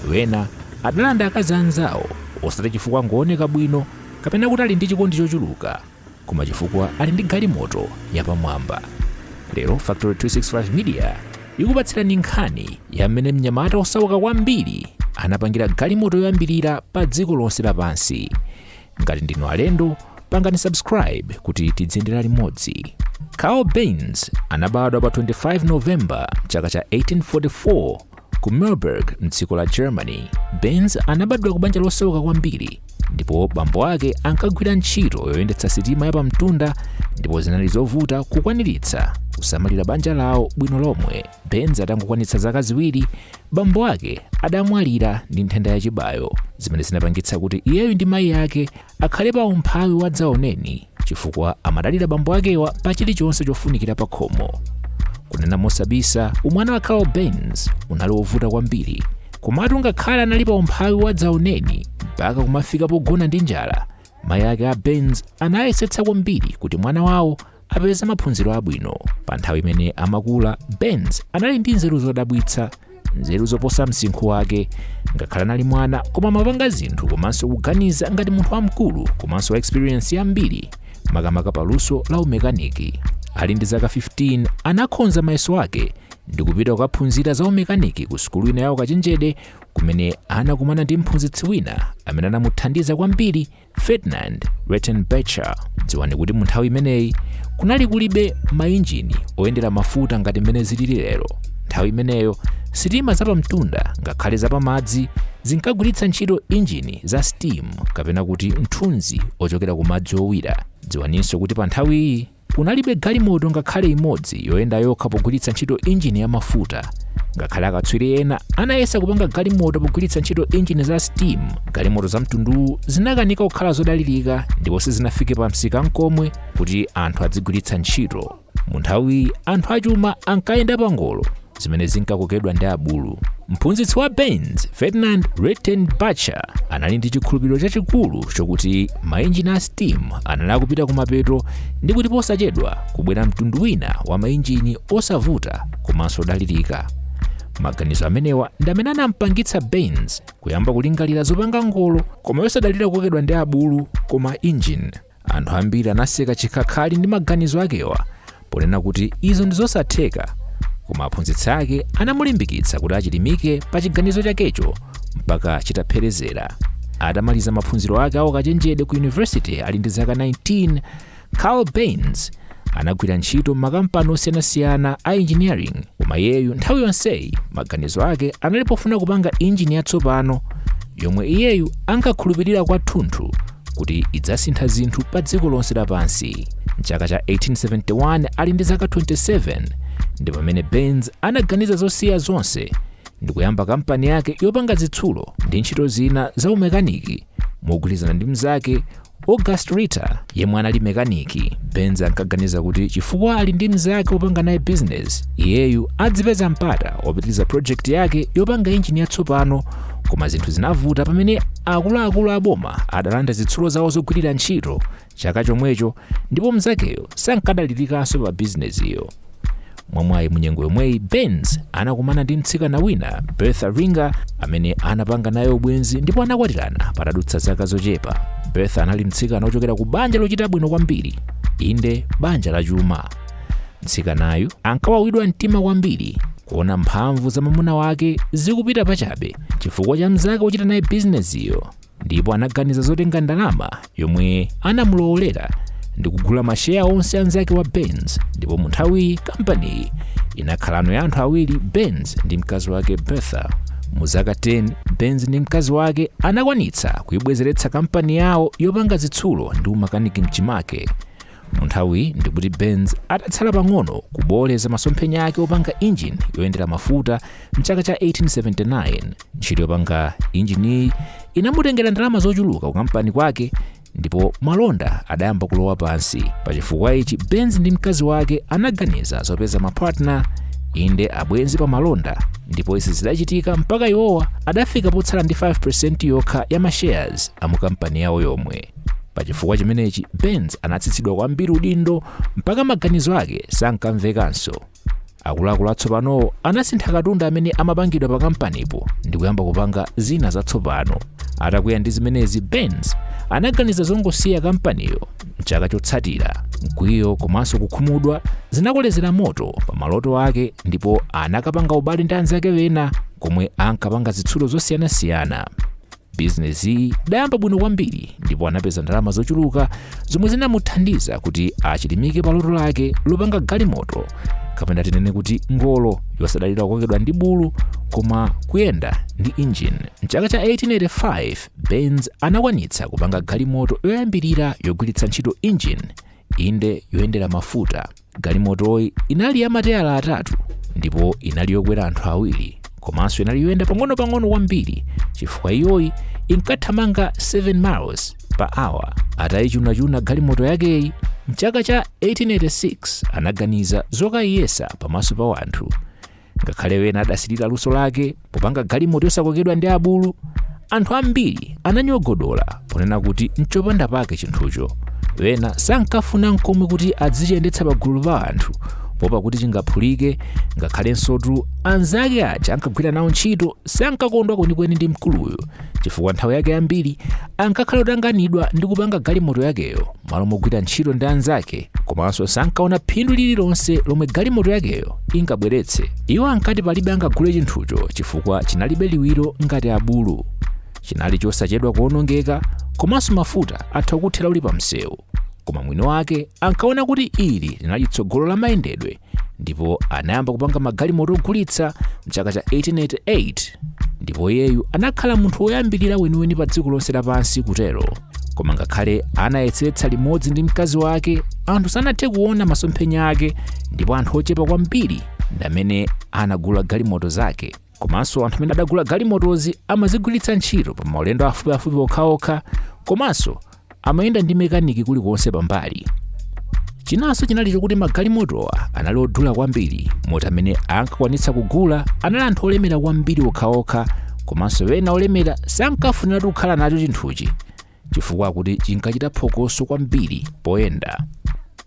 wena adalanda akazi anzawo osati chifukwa ngooneka bwino kapena kuti ali ndi chikondi chochuluka koma chifukwa ali ndi galimoto yapamwamba lero factory 265 media ikupatsirani nkhani ya mmene mnyamata osauka kwambiri anapangira galimoto yoyambirira pa dziko lonse lapansi ngati ndinu alendo pangani subscribe kuti tidziyendera limodzi carl benz anabadwa pa 25 novemba chaka cha 1844 ku mühlburg mdziko la germany benz anabadwa ku banja losauka kwambiri ndipo bambo ake ankagwira ntchito yoyendetsa sitima yapamtunda ndipo zinali zovuta kukwaniritsa kusamalira banja lawo bwino lomwe benz atangokwanitsa zaka ziwiri Bambo ake adamwalira ndi nthenda ya chibayo zimene zinapangitsa kuti iyeyu ndi mayi ake akhale pa umphawi wadzaoneni chifukwa amadalira bambo akewa pa chilichonse chofunikira pa khomo. Kunena mosabisa, umwana wa Carl Benz unali wovuta kwambiri. Komatu ngakhale anali pa umphawi wadzaoneni mpaka kumafika pogona ndi njala, Mayi ake a Benz anayesetsa kwambiri kuti mwana wawo apeze maphunziro abwino. Pa nthawi imene amakula, Benz anali ndi nzeru zodabwitsa, nzeru zoposa msinkhu wake. Ngakhale anali mwana, koma amapanga zinthu komanso kuganiza ngati munthu wamkulu komanso wa experience yambiri, makamaka pa luso la umekaniki. Ali ndi zaka 15, anakhonza mayeso ake ndi kupita kukaphunzira za umekaniki ku sukulu ina ya ukachenjede kumene anakumana ndi mphunzitsi wina amene anamuthandiza kwambiri ferdinand redtenbacher dziwani kuti mu nthawi imeneyi kunali kulibe mainjini oyendera mafuta ngati mmene zilili lero nthawi imeneyo sitima zapamtunda ngakhale zapamadzi zinkagwiritsa ntchito injini za steam kapena kuti nthunzi ochokera ku madzi owira dziwaninso kuti pa nthawi iyi kunalibe galimoto ngakhale imodzi yoyenda yokha pogwiritsa ntchito injini ya mafuta ngakhale akatswiri ena anayesa kupanga galimoto pogwiritsa ntchito injini za steam galimoto za mtunduwu zinakanika kukhala zodalirika ndipo sizinafike pa msika nkomwe kuti anthu adzigwiritsa ntchito mu nthawiyi anthu achuma ankayenda pangolo zimene zinkakokedwa ndi abulu mphunzitsi wa benz ferdinand redtenbacher anali ndi chikhulupiriro chachikulu chokuti mainjini a steam anali akupita kumapeto ndi kuti posachedwa kubwera mtundu wina wa mainjini osavuta komanso odalirika maganizo amenewa ndi amene anampangitsa benz kuyamba kulingalira zopanga ngolo koma yosadalira kukokedwa ndi abulu koma injini anthu ambiri anaseka chikhakhali ndi maganizo akewa ponena kuti izo ndi zosatheka koma aphunzitsi ake anamulimbikitsa kuti achilimike pa chiganizo chakecho mpaka chitapherezera atamaliza maphunziro ake a ukachenjede ku yunivesite ali ndi zaka 19 carl benz anagwira ntchito m'makampani osiyanasiyana a engineering koma iyeyu nthawi yonseyi maganizo ake anali pofuna kupanga injini yatsopano yomwe iyeyu ankakhulupirira kwathunthu kuti idzasintha zinthu pa dziko lonse lapansi mchaka cha 1871 ali ndi zaka 27 ndi pamene benz anaganiza zosiya zonse ndi kuyamba kampani yake yopanga zitsulo ndi ntchito zina za umekaniki mogwirizana ndi mnzake August Ritter, yemwe anali mekaniki, Benz ankaganiza kuti chifukwa ali ndi mnzake wopanga naye bizinesi, iyeyu adzipeza mpata wopitiriza project yake yopanga injini yatsopano koma zinthu zinavuta pamene akuluakulu aboma adalanda zitsulo zawo zogwirira ntchito chaka chomwecho ndipo mnzakeyo sankadalirikanso pa bizinesiyo mwamwayi munyengo yomweyi benz anakumana ndi mtsikana wina bertha ringer amene anapanga naye ubwenzi ndipo anakwatirana patadutsa zaka zochepa bertha anali mtsikana wochokera ku banja lochita bwino kwambiri inde banja la chuma mtsikanayu ankawawidwa mtima kwambiri kuona mphamvu za mwamuna wake zikupita pachabe chifukwa cha mnzake wochita naye bizinesiyo ndipo anaganiza zotenga ndalama yomwe anamulowolera ndi kugula masheya onse anzake wa benz ndipo mu nthawiyi kampaniyi inakhalano ya anthu awiri benz ndi mkazi wake bertha mu zaka 10 benz ndi mkazi wake anakwanitsa kuibwezeretsa kampani yawo yopanga zitsulo ndi umakaniki mchimake Munthawiyi ndikuti Benz adatsala pang'ono kubooleza masomphenya ake opanga injini yoyendera mafuta mchaka cha 1879. Ntchito yopanga injiniyi inamutengera ndalama zochuluka kukampani kwake ndipo malonda adayamba kulowa pansi. Pa chifukwa ichi Benz ndi mkazi wake anaganiza zopeza mapatna inde abwenzi pa malonda ndipo izi zidachitika mpaka iwowa adafika potsala ndi 5% yokha ya mashares amukampani yawo yomwe. pa chifukwa chimenechi benz anatsitsidwa kwambiri udindo mpaka maganizo ake sankamvekanso akuluakulu atsopanowo anasintha katundu amene amapangidwa pa kampanipo ndi kuyamba kupanga zina zatsopano atakwiya ndi zimenezi benz anaganiza zongosiya kampaniyo mchaka chotsatira mkwiyo komanso kukhumudwa zinakolezera moto pa maloto ake ndipo anakapanga ubale ndi anzake ena komwe ankapanga zitsulo zosiyanasiyana Bizinesiyi idayamba bwino kwambiri ndipo anapeza ndalama zochuluka zomwe zinamuthandiza kuti achilimike pa loto lake lopanga galimoto kapena tinene kuti ngolo yosadalira kukokedwa ndi bulu koma kuyenda ndi injini. Mchaka cha 1885 Benz anakwanitsa kupanga galimoto yoyambirira yogwiritsa ntchito injini Inde, yoyendera mafuta. Galimotoyi inali ya mateyala atatu ndipo inali yokwera anthu awiri komanso inali yoyenda pang'onopang'ono kwambiri chifukwa iyoyi inkathamanga 7 miles per hour. Atayichunachuna galimoto yakeyi mchaka cha 1886 anaganiza zokayiyesa pamaso pa wanthu. ngakhale wena adasilira luso lake popanga galimoto yosakokedwa ndi abulu anthu ambiri ananyogodola ponena kuti nchopanda pake chinthucho wena sankafuna nkomwe kuti adzichiyendetsa pagulu pa anthu poopa kuti chingaphulike ngakhalensotu anzake aja ankagwira nawo ntchito sankakondwa kwenikweni ndi mkuluyu chifukwa nthawi yake yambiri ankakhala otanganidwa ndi kupanga galimoto yakeyo malo mogwira ntchito ndi anzake komanso sankaona phindu lililonse lomwe galimoto yakeyo ingabweretse iwo ankati palibe angagule chinthucho chifukwa chinalibe liwiro ngati abulu chinali chosachedwa kuonongeka komanso mafuta atha kuthera uli pa msewu koma mwini wake ankaona kuti ili linali tsogolo la mayendedwe ndipo anayamba kupanga magalimoto ogulitsa mchaka cha 1888 ndipo iyeyu anakhala munthu woyambirira weniweni pa dziko lonse lapansi kutero koma ngakhale anayesetsa limodzi ndi mkazi wake anthu sanathe kuona masomphenya ake ndipo anthu ochepa kwambiri ndamene anagula galimoto zake Komanso anthu amene adagula galimotozi amazigwiritsa ntchito pa maulendo afupiafupi okhaokha komanso amayenda ndi mekaniki kulikonse pambali. Chinanso chinali chokuti magalimotowa anali odula kwambiri moti amene ankakwanitsa kugula anali anthu olemera kwambiri okhaokha komanso ena olemera sankafuniratu kukhala nacho chinthuchi chifukwa akuti chinkachita phokoso kwambiri poyenda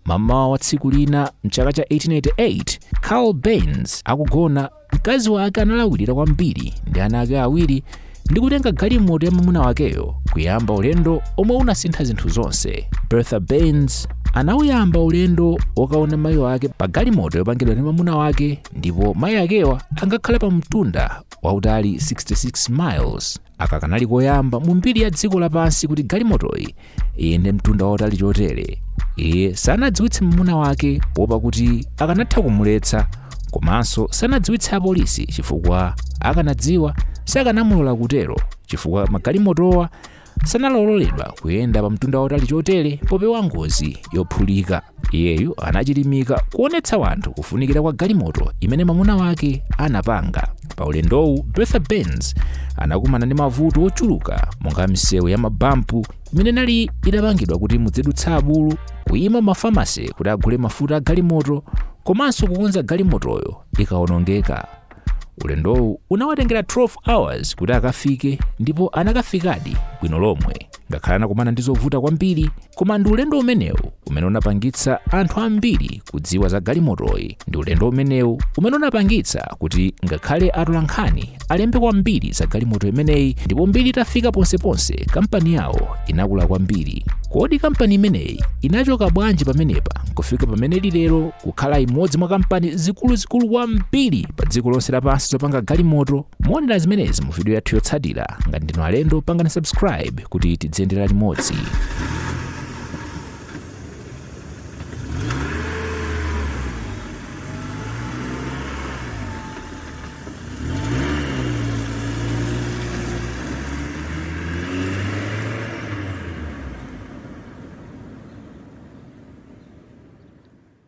mamawa wa tsiku lina mchaka cha 1888 karl benz akugona mkazi wake analawirira kwambiri ndi ana ake awiri ndi kutenga galimoto ya mamuna wakeyo kuyamba ulendo omwe unasintha zinthu zonse bertha benz anawuyamba ulendo wokaona mayi ake pa galimoto yopangidwa ndi mamuna wake ndipo mayi akewo ankakhala pa mtunda wautali 66 miles aka kanali koyamba mu mbiri ya dziko lapansi kuti galimotoyi iyende mtunda wautali chotere iye sanadziwitse mwamuna wake poopa kuti akanatha kumuletsa komanso sanadziwitse apolisi chifukwa akanadziwa sakanamulola kutero chifukwa magalimotowa sankaloledwa kuyenda pa mtunda wautali chotere popewa ngozi yophulika iyeyu anachilimika kuonetsa wanthu kufunikira kwa galimoto imene mamuna wake anapanga pa ulendowu bertha benz anakumana ndi mavuto ochuluka monga misewu ya mabampu imene inali idapangidwa kuti mudzidutsa abulu kuyima mafamasi kuti agule mafuta a galimoto komanso kukonza galimotoyo ikawonongeka ulendowu unawatengera 12 hours kuti akafike ndipo anakafikadi bwino lomwe ngakhale anakumana ndi zovuta kwambiri koma ndi ulendo umenewu umene unapangitsa anthu ambiri kudziwa za galimotoyi ndi ulendo umenewu umene unapangitsa kuti ngakhale atolankhani alembe kwambiri za galimoto imeneyi ndipo mbiri itafika ponseponse kampani yawo inakula kwambiri kodi kampani imeneyi inachoka bwanji pamenepa nkufika pamene lilero kukhala imodzi mwa kampani zikuluzikulu kwambiri pa dziko lonse lapansi zopanga galimoto muonera zimenezi mu video yathu yotsatira ngati ndinu alendo pangani subscribe kuti tidziyendera limodzi